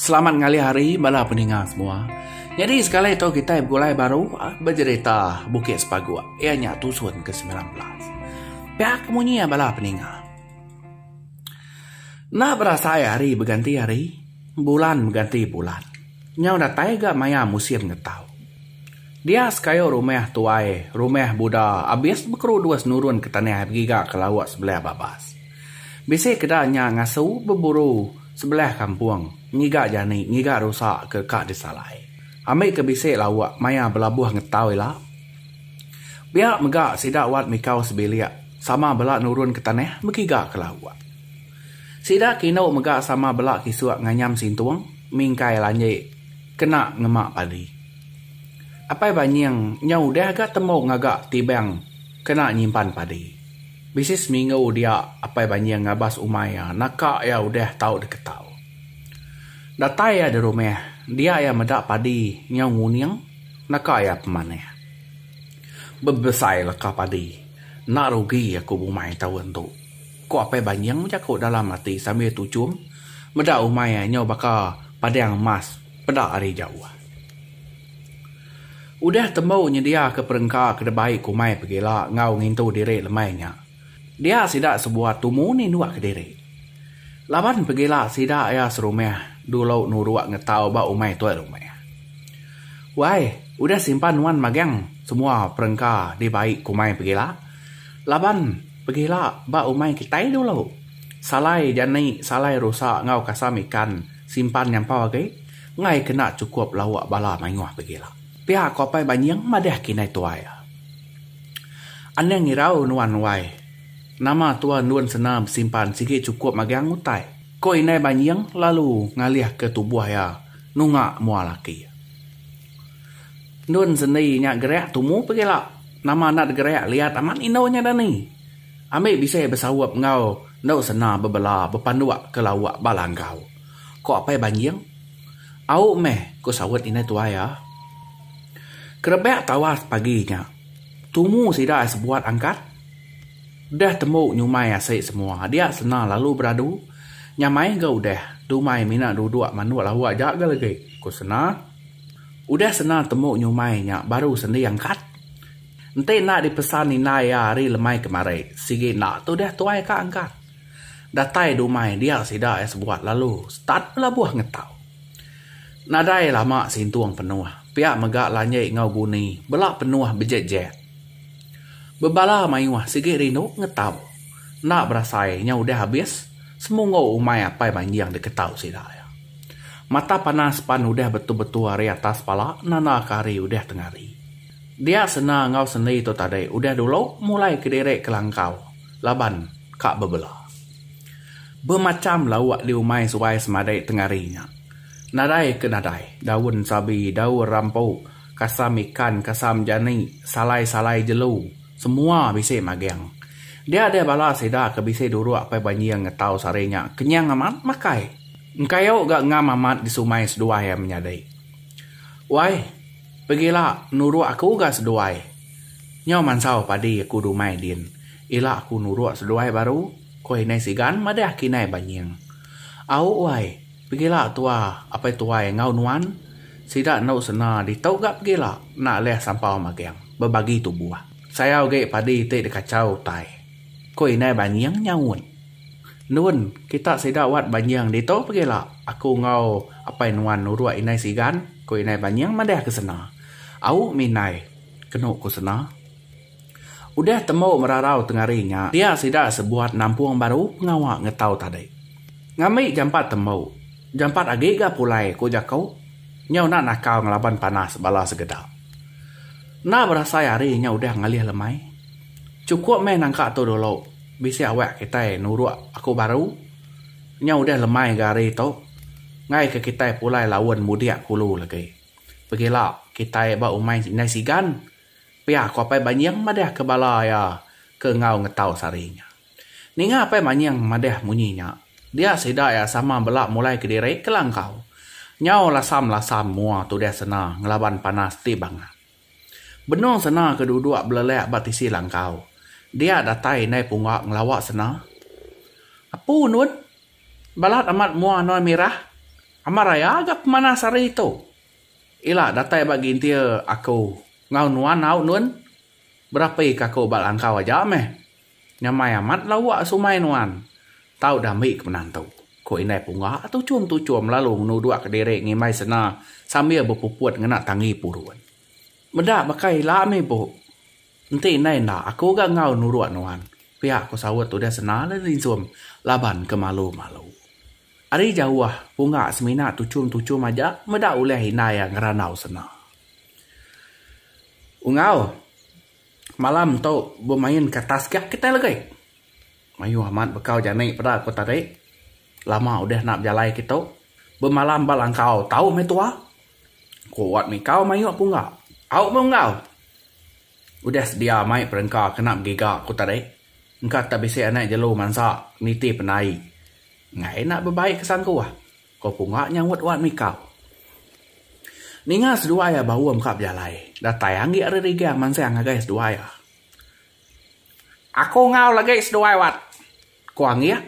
Selamat ngalih hari bala peninga semua. Nyadi sekali tu kitai begulai baru bejerita Bukit Sepaguk iya nya tusun ke semilan belas. Pia ke munyi iya bala peninga. Enda berasai hari beganti hari, bulan beganti bulan. Nyau datai ga maya musim ngetau. Dia sekayu rumah tuai, rumah buda abis bekeru dua senurun ke tanah begiga ke lauk sebelah babas. Bisi keda nya ngasu beburu sebelah kampung ngiga jani ngiga rusa ke ka disalai. Ambi ke bisi lauk maya belabuh ngetau ila. Pia mega sida wat mikau sebilik sama bela nurun ke tanah bekiga ke lauk. Sida ke indu mega sama bela kisuk nganyam sintung mingkai lanji kena ngema padi. Apai Banying nya udah ga tembu ngaga tibang kena nyimpan padi. Bisi seminggu dia Apai Banying ngabas umai iya naka iya udah tau diketau. Datai iya dirumah dia iya meda padi nyau nguning naka iya pemanah. Bebesai leka padi enda rugi aku bumai taun tu, ku Apai Banying bejaku dalam ati sambil tuchum meda umai iya nyau baka padang emas. peda ari jauh. Udah tembu nyediaka perengka ke debai kumai pegila enggau ngintu diri lemai nya, dia sida sebuah tumu ninduka diri. Laban pegila sida iya serumah dulu nuruk ngetau ba umai tuai rumah. Wai, udah simpan nuan magang semua perengka dibai kumai pegila? Laban pegila ba umai kitai dulu, salai jani, salai rusa enggau kasam ikan. Simpan nyampau agi enggai kena chukup lauk bala mayuh begila. Pia ko Apai Banying madah ke indai tuai. Anang irau nuan wai. Nama tua endun sena besimpan sigi chukup magang utai. Ko Indai Banying lalu ngalih ke tubuh iya nunga mua laki. Endun sendi nya gerak tumu begila. Nama anak degerak liat amat indu nya dani. Ambi bisi besaup enggau enda sena bebela bepanduk ke lauk ba langgau, ko Apai Banjing. Au meh, ko saut indai tuai iya. Kerebak tawas pagi nya, tumu sida ai sebuat angkat. Deh tembu nyumai asi semua dia sena lalu beradu. Nyamai ga udah, dumai mina duduk manduk lauk ja ga legi, ko sena. Udah sena tembu nyumai nya baru sendi angkat. Enti enda dipesan indai iya hari lemai kemari, sigi enda tu deh tuai ka angkat. Datai dumai dia sida iya sebuat lalu start belabuh ngetau. Nadai lama Sintung penuh, pia mega Lanji enggau Guni bela penuh bejek-jek. Bebala mayuh sigi rindu ngetau. Enda berasai nya udah abis semunggu umai Apai Manjing diketau sida iya. Mata panas pan udah betul-betul ari atas pala nanda ke hari udah tengari. Dia sena enggau sendi tu tadi udah dulu mulai kediri kelangkau laban ka bebela. Bemacham lauk diumai suai semadi tengari nya. Nadai ke nadai, daun sabi, daun rampu, kasam ikan, kasam jani, salai-salai jelu, semua bisi maging. Dia deh bala sida ke bisi duruk apai banjing ngetau sehari nya kenyang amat makai. Engkayu ga ngam amat disumai seduai menyadi. Wai. Pegila nuruk aku ga seduai. Nyau mansau padi aku dumai din. Ila aku nuruk seduai baru, ko inai sigan madah akinai banying. Au wai, pegila tua apai tuai enggau nuan. Sida endu sena ditu ga pegila enda leh sampau magang bebagi tubuh. Sayau agi padi ti dikachau utai, ko inai banying nyaut. Nun, kita sida wat Banying ditu pegila aku enggau apai nuan nuruk indai sigan, ku indai Banying madahka sena. Au mih indai, kenu ku sena. Udah tembu merarau tengari nya, dia sida sebuat nampung baru pengawa ngetau tadi. Ngambi jampat tembu, jampat agi ga pulai ku jaku. Nyau enda nakal ngelaban panas bala segeda. Enda berasai hari nya udah ngalih lemai. Chukup meh nangka tu dulu. Bisi awak kitai nuruk aku baru nya udah lemai ga hari tu enggai ke kitai pulai laun mudik kulu lagi. Pegila kitai ba umai indai sigan pia aku Apai Banying madah ke bala iya ke enggau ngetau sehari nya. Ninga Apai Manying madah munyi nya, dia sida iya sama bela mulai kediri ke langkau nyau lasam-lasam mua tudah sena ngelaban panas ti bangat. Benung sena ke duduk belelak ba tisi langkau. Dia datai indai pungga ngelawa sena. Apu nun. Balat amat mua noi mirah. Amat raya ga pemanas hari tu. Ila datai ba gintir aku enggau nuan au nun. Berapi ka aku ba langkau aja meh. Nyamai amat lawa sumai nuan. Tau dah mih ke penantu, ku indai Punga tuchum-tuchum lalu ngenudukka diri ngimbai sena sambil bepuput ngena tanggi purun. Meda baka ila mih bu. Enti indai enda aku ga enggau nuruk nuan, pia ku saut udah sena lalu dinsum laban ke malu-malu. Ari jauh, Punga semina tuchum-tuchum aja meda ulih indai iya ngerandau sena. Enggau. Malam tu bemain ka tasgak kitai legi. Mayuh amat bekau jani peda ku tadi. Lama udah enda bejalai ke tu. Bemalam ba langkau tau meh tua. Ku Wat Mikau mayuh pungga. Au meh enggau. Udah sedia mai perengka kena begiga ku tadi. Engka tak bisi anak jelu mansa nitih pendai. Enggai enda bebai ke sangkuh. Ko Punga nyaut wan mikau. Ninga seduai iya baum ka bejalai. Datai anggik ari Rigang mansang ngagai seduai iya. Aku enggau lagi seduai Wat, ko anggik.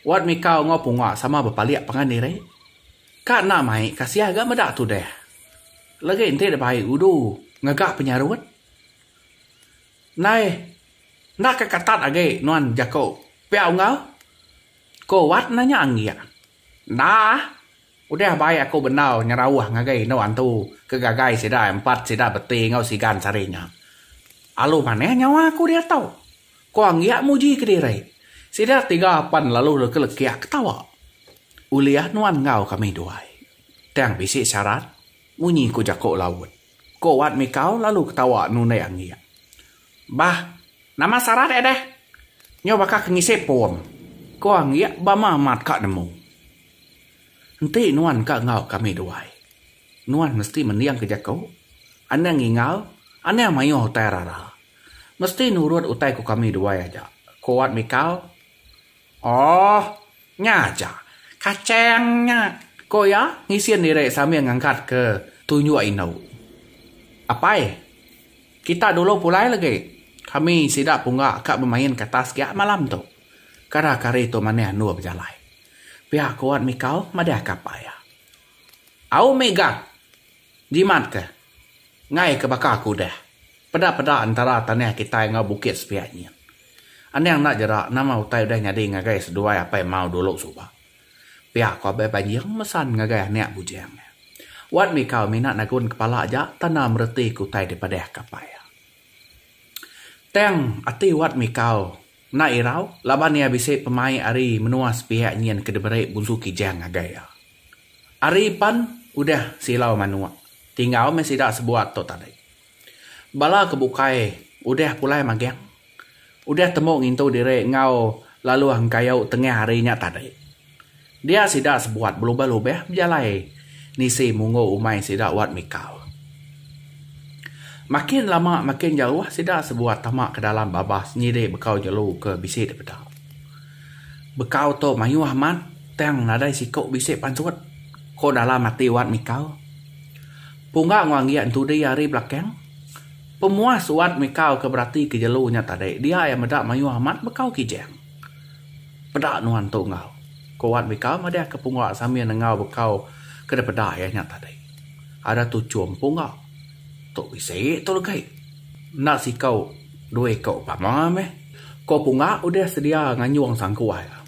Wat mikau enggau Punga sama bepalik pangan diri. Ka enda mai kasih ga meda tudah. Lagi enti deba ai udu ngaga penyarut. Nai enda ka katat agi nuan jaku pia enggau. Ko Wat nanya anggik. Enda. Udah bai aku bendar nyerauh ngagai indu antu ke gagai sida empat sida beti enggau sigan sari nya. Alu manah nyawa aku dia tau. Ko anggik muji kediri. Sida tiga pan lalu lekelekik ketawa. Ulih nuan enggau kami duai. Tang bisi syarat, munyi ku jaku laut. Ko Wat mikau lalu ketawa nundai anggik. Bah, nama sarat eh deh? Nyau baka ke ngisi pom. Ko Anggi bama amat ka nemu. Enti nuan ka enggau kami duai, nuan mesti mending ke jaku, anang ngingal, anang mayuh utai rara. Mesti nurut utai ko kami duai aja, ko Wat Mikal. Oh, nya aja. Kachang nya, ku iya ngisin diri sambil ngangkatka tunjuk indu. Apai, kita dulu pulai lagi. Kami sida pungga ka bemain ke atas ga malam tu. Kara kari tu manah endur bejalai. Pia ku Wan Mikau madahka apai iya. Au mega. Jimat ke. Enggai ke baka aku udah. Peda-peda entara tanah kitai enggau bukit sepiak nyin. Anang enda jera nama utai udah nyadi ngagai seduai apai mau dulu suba. Pia ko Abai Banjing mesan ngagai anak bujang iya. Wat Mikau mina nagun kepala aja tanda mereti ke utai dipadah ke apai iya. Tang ati Wat Mikau. Enda irau, laban iya bisi pemaik ari menua sepiak nyin ke diberi Bunsu Kijang ngagai iya. Ari pan udah silau manuk, tinggal meh sida sebuat tu tadi. Bala ke bukai udah pulai magang, udah temu ngintu diri enggau laluh engkayu tengah hari nya tadi. Dia sida sebuat belubah-lubah bejalai nisi munggu umai sida wat mikau. Makin lama makin jauh sida sebuat tama ke dalam babas nyidi bekau jelu ke bisi dipeda. Bekau tu mayuh amat tang nadai siku bisi pansut, ko dalam ati wat mikau. Pungga enggau anggi entudi ari belakang, pemuas wat mikau ke beratika jelu nya tadi dia iya meda mayuh amat bekau kijang. Peda nuan tu enggau. Ku Wan Bikau madah ke Punggok Samin enggau Bekau ke dipeda iya nya tadi. Ada tu chum Punggok. Tu bisi tu legi. Enda sikau dua iku pama meh. Ko Punggok udah sedia nganjung sangkuai iya.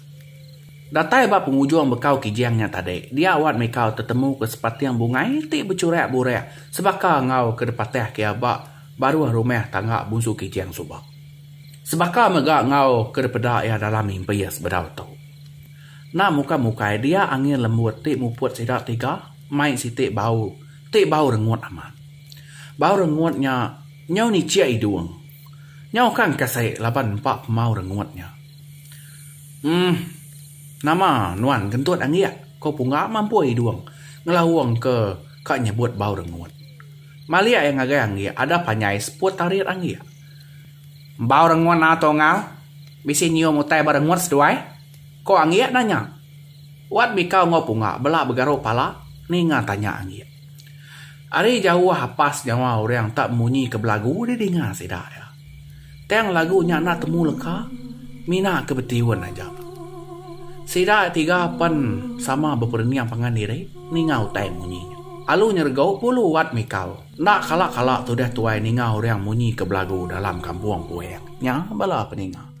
Datai ba pengujung Bekau Kijang nya tadi, dia Wan Mikau tetemuka sepating bungai ti bechurak-burak sebaka enggau ke dipatahka iya ba baruh rumah tangga Bunsu Kijang suba. Sebaka mega enggau ke dipeda iya dalam impis bedau tu. Enda mukai-mukai dia angin lembut ti muput sida tiga mai siti bau ti bau rengut amat. Bau rengut nya nyau nichik idung. Nyau kan kasi laban empa pemau rengut nya. Em, nama nuan kentut anggik? ko Pungga mampui idung ngelaungka ka nyebut bau rengut. Mali ai ngagai anggi ada panjai seput tarit anggi. Embau rengut na Tongal bisi nyium utai ba rengut seduai? ko anggi nanya. Wat Bikau enggau Punga bela begaruk pala ninga tanya anggi. Ari jauh apas nyawa orang enta munyi ke belagu didinga sida iya. Tang lagu nya enda temu leka mina ke betiun aja. Sida tiga pen sama beperening pangan diri ninga utai munyi nya. Alu nyerego pulu wat mikau. Enda kala-kala tudah tuai ninga orang munyi ke belagu dalam kampung Puang nya bala peninga.